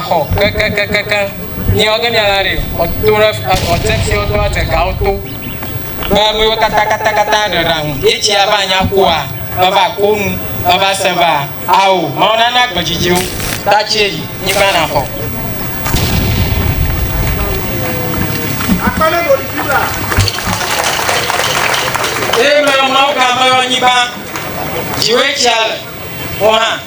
xɔ kekekekekeŋ nye ɔge mia la ɖe ɔto ɖe ɔte si ɔto ɖe te gawo to be ame yiwo katã katã katã ɖe ɖaŋu etsi ava nya koa eva ko nu eva se va ao mawu nana gbe dzidzi wo ta tsi eyi nyigba na xɔ. akpɛlɛ ɖo ɖi la. eye mɛ mawu gã mɛ yɔ nyigba dziwe tsia le wọn hã.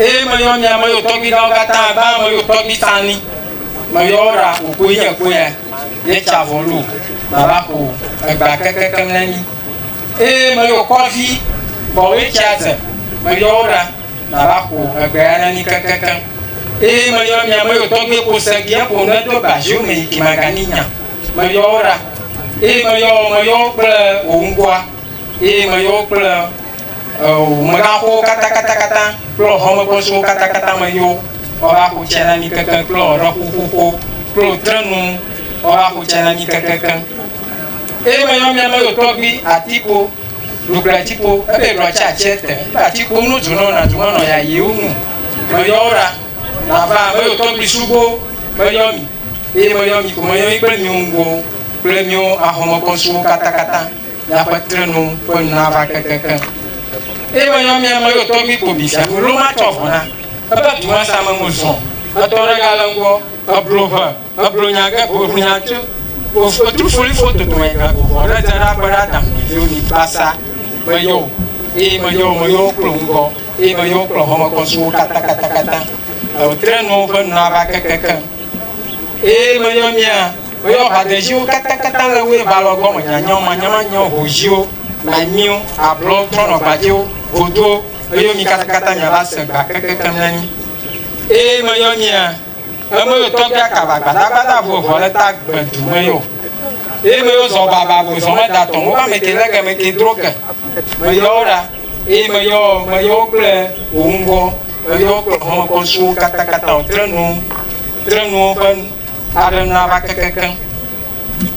Eye meyɔ mia me yewo tɔgbi ɖawo katã abe ame yewo tɔgbi ta ni. Meyɔ wo ɖa ƒo kpoe nye kpoea, nye tsa vɔ lo nava ƒo egba kekekem ne mi. Eye meyɔ kɔvi bɔwe tsia dze, meyɔ wo ɖa nava ƒo egbea ne mi kekekem. Eye meyɔ mia me yewo tɔgbi ko se gi eƒo nu edo ba ziwo me yi ki magani nya. Meyɔ wo ɖa, eye meyɔ meyɔ wo kple wò ŋkɔa, eye meyɔ wo kple. Megaxɔwo katãkatãkatã kple xɔmekpesuwo katãkatã me yo woava xo tse na mí kekeŋ kple ƒuƒoƒo kple trenu woava xo tse na mí kekeŋ. Eye meyɔ mía me tɔgbi atipo ɖukple atipo ebe ɖua tse atse te ebe atipo nu dzu nɔ na dzu nɔ ya yewo nu. Meyɔ wo ɖa nava me tɔgbi sugbɔ meyɔ mi eye meyɔ mi ko meyɔ mi kple mi ŋgɔwo kple mi wo axɔmekpesuwo katãkatã. Miaƒe trenu ƒe nu nava kekekeŋ. Eye menyɔ mia me yotɔ mi ko mi fia Milo matsɔ vɔ na. Ebe du ma sa me ŋu zɔ̃. Etɔ ɖe ga le ŋgɔ. Eblo ʋe. Eblo nya ge ʋu ʋu nya tso. Wofo tu foli fo toto me ga go vɔ ɖe dze ɖa be ɖa dam ɖe viwo mi basa. Meyɔ wo. Eye meyɔ wo meyɔ wo kple ŋgɔ. Eye meyɔ wo kple hɔme kɔ suwo katã katã katã. Eo trenu ƒe nu nava kekekeŋ. Eye menyɔ mia. Woyɔ ʋadedziwo katãkatã le woe balɔ gbɔ me nyanyɔ, manyɔmanyɔ, hoziwo, anyiwo, ablɔ, trɔnɔgbadzɛwo, godowo, meyo mi katãkatã miava se gba kekekem ne mi. Eye meyɔ mia, emeyo tɔgbi akaba gbadagbada vo evɔ le ta gbe du me yo. Eye meyo zɔ baba vo zɔ me da tɔn woƒe ameke le ge meke dro ke. Meyɔ wo ɖa, eye meyɔ, meyɔ wo kple wo ŋgɔ, meyɔ wo kple xɔmekɔsuwo katãkatã, wo tre nuwo, tre nuwo ƒe. Aɖem na va kekekeŋ.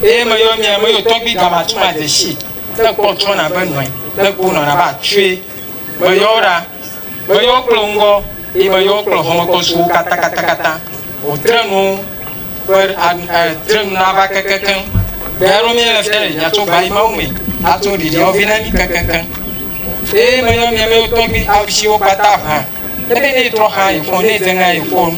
Eye meyɔ nye meyɔ tɔgbi gama tso ma dzesi. Ne kpɔ trɔ na be nɔe. Ne kpo nɔ na ba tsoe. Meyɔ wo ɖa. Meyɔ wo kple ŋgɔ. Eye meyɔ wo kple xɔmekɔ su wo kata kata kata. O tre nu ƒe eh, tre nu na va kekekeŋ. Gaya ɖo mie le fia ɖe nya tso gba yi mawu me. Ato ɖiɖi ɔvi na mi kekekeŋ. Eye meyɔ mie meyɔ tɔgbi awu si wo kpata ʋã. Ebe ne trɔ xa yi fɔ ne dze ŋa yi fɔ nu.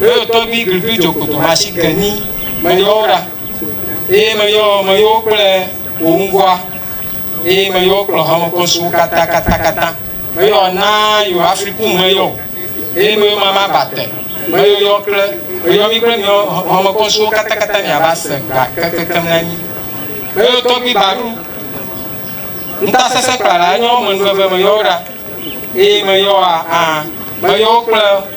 Meyɔ tɔgbi grigri dzo kpoto machine keni meyɔ wo ɖa eye meyɔ meyɔ wo kple wò ŋgɔa eye meyɔ wo kplɔ hame kɔsuwo katã katã katã meyɔ na yɔ afriku meyɔ eye meyɔ mama bate meyɔ yɔ kple meyɔ mi kple miyɔ hame kɔsuwo katã katã mi ava se gba kekeke na mi meyɔ tɔgbi baru nta sese kpala enye wo me nuveve meyɔ wo ɖa eye meyɔ a meyɔ wo kple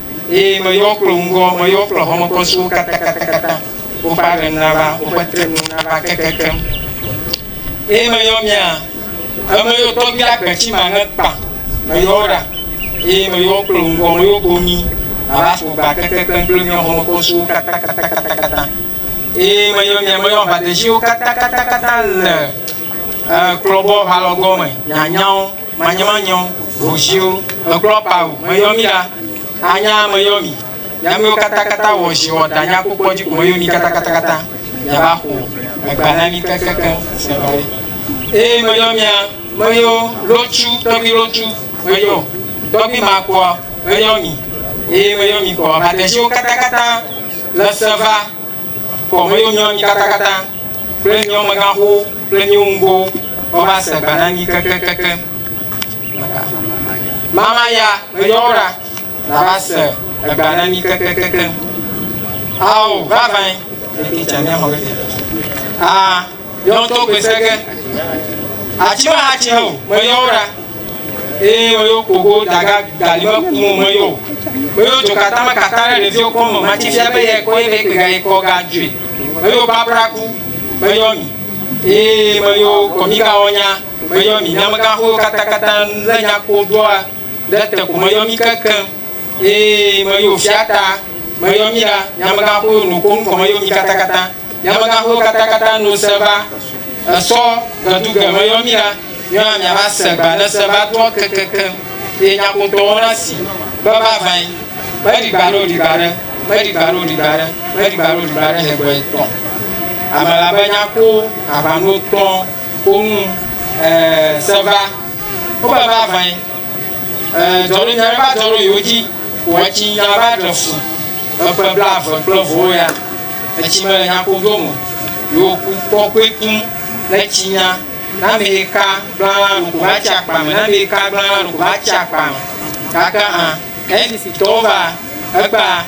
Eye meyɔ kple ŋgɔ, meyɔ kple hɔmekɔsuwo katatatata, woƒe aɖeŋ nava, woƒe trenu nava kekekem. Eye meyɔ mia, emeyɔ tɔgbi agbe tsi ma ŋe kpa, meyɔ wo ɖa, eye meyɔ kple ŋgɔ, meyɔ go mi, mava ƒo gba kekekem kple mia hɔmekɔsuwo katakatakata. Eye meyɔ mia, meyɔ aʋadetsiwo katatakata le klɔbɔ ʋalɔgɔme, mianya wo. manyɔmanyɔ, hoziwo, mekplɔ pa o, meyɔ mi ɖa, anya meyɔ mi, nyamiwo kata kata wɔ zi wɔ da nya kpokpɔ dzi ko meyɔ mi kata kata kata, yava xo egba na mi kekekeŋ, sɛbɛri. Eye meyɔ mia, meyɔ lotsu, tɔgbi lotsu, meyɔ, tɔgbi ma kpɔa, meyɔ mi, eye meyɔ mi kpɔa, badeziwo kata kata le seva, Kɔ me yo nyɔ mi katakata kple miɔ meganxo kple miwo ŋgo ɔ va se gba na mi kekekeke. Mama ya me yɔ ra na va se egba na mi kekekeke. Ao vavãe, eke tsa mi ahɔ ke. A Yɔ tɔ gbe se ge. Atsi me ha tsi ne o, me yɔ wo ɖa. Eye me yɔ koko daga gali me ku mo me yɔ o. Me yɔ tso kata me kata ɖe ɖevi wo kɔ me ma tsi fia be yɛ kɔ ye be kpe ga ye kɔ ga dzoe. Me yɔ babra ku, me yɔ mi. Eye me yɔ kɔmi ga wɔ nya, me yɔ mi. Nyamega xowo kata kata le nya ko doa ɖe te ko me yɔ mi kekeŋ. Eye meyɔ wò fia ta, meyɔ mí ɖa, nye amegãxoe nu koŋ kɔ meyɔ mí katakata. Nye amegãxoe katakata nu se va, esɔ gedu ge meyɔ mí ɖa, míɔna miava se gba ne se va doa kekekeŋ, eye nyakpotɔwo na si be vavãe, meɖi gba ɖe o ɖi gba ɖe, meɖi gba ɖe o ɖi gba ɖe, meɖi gba ɖe o ɖi gba ɖe hegbɔe tɔ ame la be nya ko aʋanuwo tɔ ko nu e se va. Wobɛ ba vɛn eh, dzɔnu nyɛ ba dzɔnu yo dzi, wɛtsi ya ba ɖe fu, eƒe bla ve kple vɔwo ya, etsi mele nya ko do mo, yo ku kɔkɔe kum le tsi nya, na mi yi ka gblala nu ko ba tsi akpa me, na mi yi ka gblala nu ko ba tsi akpa me, gake an, NDC tɔwo va, egba.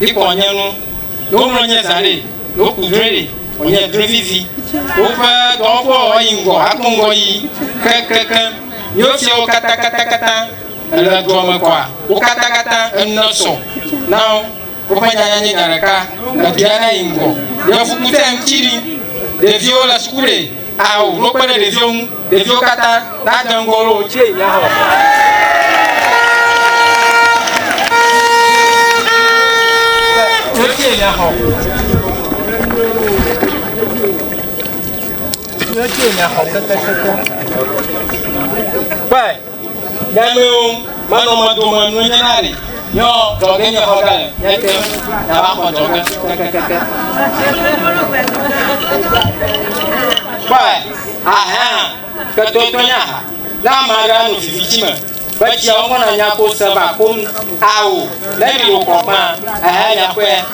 Ikɔ nye nu, ɖo mlɔ nye zã ɖe, ɖo ku drɔe ɖe, wònye drɔe vivi. Woƒe dɔwɔƒewo yi ŋgɔ akpɔ ŋgɔ yi keŋkeŋkeŋ. Míwo fiawo katã, katã, katã èle dua me kɔa? Wo katã, katã enu nesɔ na wo. Woƒe nyanya nye nya ɖeka, le dua ɖe yi ŋgɔ. Yevukutɛ ŋuti ɖi, ɖeviwo le suku ɖe. Ao, wokpe ɖe ɖeviwo ŋu. Ɖeviwo katã nade ŋgɔ wo ɖo tse mía xɔ. Kpɔe. Nyameo, manɔ mɔ dome nunye na ɖe nyɔ dzɔge nye xɔ gale nye te na va xɔ dzɔge kekekeke. Kpɔe, ahɛa ke to to nya ha na ma ɖe anu vivi dzi me be tsia wo mɔ na nya ko se va ko nu ao ne mi wo kɔ fã ehe nya kɔe.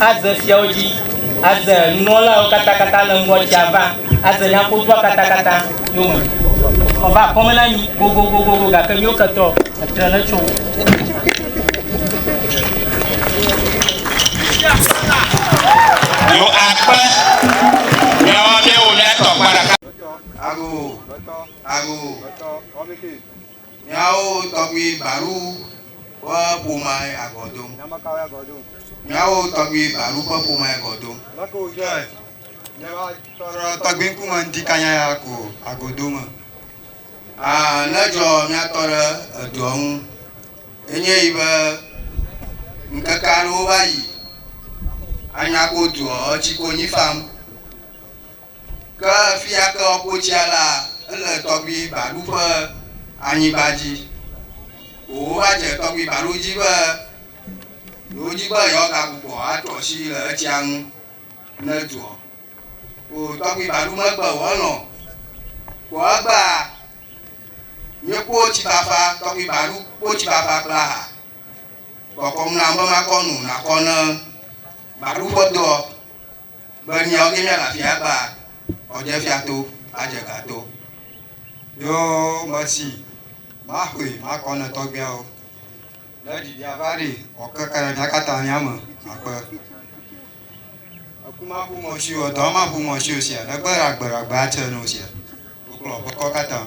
Aze fiawo dzi, aze nunɔlawo katã katã le ŋgɔ tsia va, aze nyakodua katã katã yome. Eva akɔme na mi gogogogogo, gake miwo ketɔ etre ne tso wo. Yo akpe, miawo miawo miatɔ kpa ɖeka. Ago, ago, Miawo tɔgbui Baru ƒe ƒomea agɔ dom. Nya ma kawoe agɔ dom? Miawo tɔgbui Baru ƒe ƒomea agɔ dom. Nya kae wòdzɔe? Miawo tɔrɔ tɔgbui ŋkume ŋdi kanya ya ko agɔ do me. Aa, nedzɔ mía tɔ ɖe edua ŋu. Enye yi be, ŋkeke aɖewo va yi, anya ko dua etsi konyi fam. Ke fia ke woƒo tsia la, ele tɔgbi baɖu ƒe anyigba dzi. O wova dze tɔgbi baɖu dzi be yewo dzi be yewoa ga gbugbɔ atrɔ asi le etsia ŋu ne dzuɔ. O tɔgbi baɖu me gbe o elɔ̃ kpɔ egbea mí kpɔ tsi fafa tɔgbi baɖu kpɔ tsi fafa kple aha kɔkɔm na be makɔ nu nakɔ ne baɖu ƒe doɔ. be miawo ke mianɔ afii agbã ɔdefia to adze ga to. Yo mesi maxoe makɔ ne tɔgbiawo ne ɖiɖi ava ɖi ɔ keke ɖe mia kata mia me akpe. Eku ma ƒu mɔ si o dɔ ma ƒu mɔ si o sia ne gbe ɖa gbe ɖa gbe atse no sia. Wo kplɔ ƒe kɔ kata.